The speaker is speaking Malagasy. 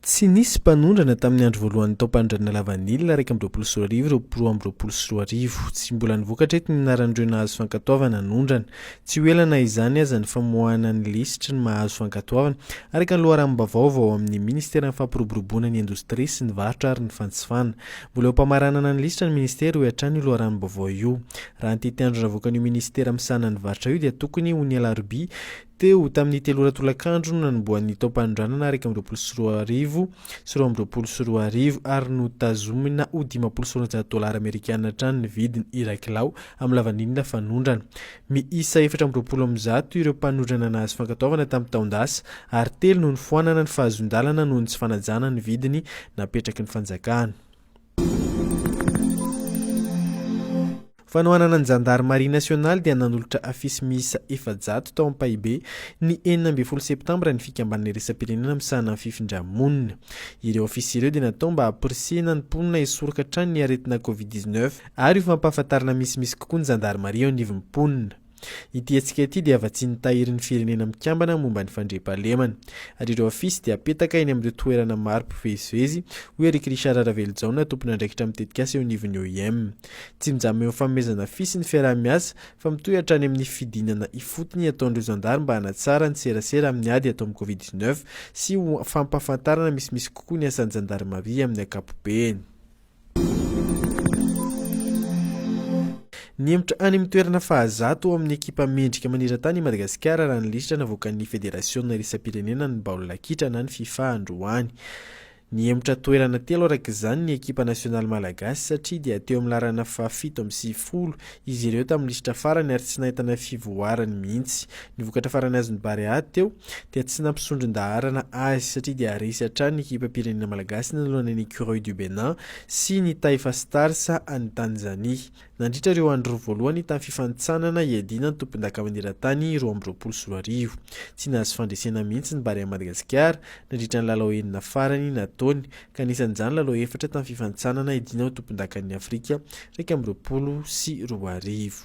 Tsy nisy mpanondrana tamin'ny andro voalohan'ny taom-panondranana lavanila iraika amby roapolo sy roa arivo ireo roa amby roapolo sy roa arivo. Tsy mbola nivoaka hatreto ny anaran'ireo nahazo fankatoavana hanondrana. Tsy ho ela na izany aza ny famoahana ny lisitry ny mahazo fankatoavana, araka ny loharanom-baovao avy ao amin'ny Ministeran'ny Fampiroboroboana ny Indostria sy ny Varotra ary ny Fanjifana. Mbola eo am-pamaranana ny lisitra ny Ministera, hoy hatrany io loharanom-baovao io. Raha ny tety andro navoakan'io minisitera misahana ny varotra io dia tokony ho ny alarobia teo tamin'ny telo ora tolakandro no nanombohan'ny taom-panondranana iraika amby roapolo sy roa arivo sy roa amby roapolo sy roa arivo ary notazomina ho dimampolo sy roanjato dolara amerikana hatrany ny vidiny iray kilao amin'ny lavanila fanondrana. Miisa efatra amby roapolo amin'ny zato ireo mpanondrana nahazo fankatoavana tamin'ny taon-dasa ary telo no nifoanana ny fahazoan-dalana noho ny tsy fanajana ny vidiny napetraky ny fanjakana. Fanohanana ny Zandarimaria nasionaly dia nanolotra afisy miisa efajato tao Ampahibe, ny enina ambin'ny folo septambra ny fikambanana iraisam-pirenena misahana ny fifindra-monina. Ireo afisy ireo dia natao mba hamporisihina ny mponina hisoroka hatrany ny aretina Covid dix-neuf ary ho fampahafantarana misimisy kokoa ny Zandarimaria eo anivon'ny mponina. Ity hetsika ity dia vatsian'ny Tahirin'ny Firenena Mikambana momba ny Fandriampahalemana, ary ireo afisy dia apetaka eny amin'ireo toerana maro mpivezivezy, hoy Eric Richard Ravelojaona, tompon'andraikitra amin'ny tetikasa eo anivon'ny OIM. Tsy mijanona eo amin'ny fanomezana afisy ny fiaraha-miasa, fa mitohy hatrany amin'ny fidinana ifotony ataon'ireo zandary mba hanatsara ny serasera amin'ny ady atao amin'ny Covid dix neuf sy ho fampahafantarana misimisy kokoa ny asan'ny zandarimaria amin'ny ankapobeny. Nihemotra any amin'ny toerana fahazato ao amin'ny ekipa mendrika manerantany i Madagasikara raha ny lisitra navoakan'ny Federasiona iraisam-pirenena ny baolina kitra na ny fifa androany. Nihemotra toerana telo araka izany ny ekipa nasionaly malagasy satria dia teo amin'ny laharana fahafito amby sivifolo izy ireo tamin'ny lisitra farany ary tsy nahitana fivoarany mihitsy. Ny vokatra farany azon'ny Barea teo dia tsy nampisondron-daharana azy satria dia resy hatrany ny ekipam-pirenena malagasy nanoloana ny Ecureuils du Bénin sy ny Taifa Stars any Tanzania. Nandritra ireo andro roa voalohany tamin'ny fifanintsanana hiadiana ny tompondaka maneran-tany roa amby roapolo sy roa arivo, tsy nahazo fandresena mihitsy ny Barea Madagasikara nandritra ny lalao enina farany nataony ka anisan'izany lalao efatra tamin'ny fifanintsanana hidiana ho tompondakan'i Afrika iraika amby roapolo sy roa arivo.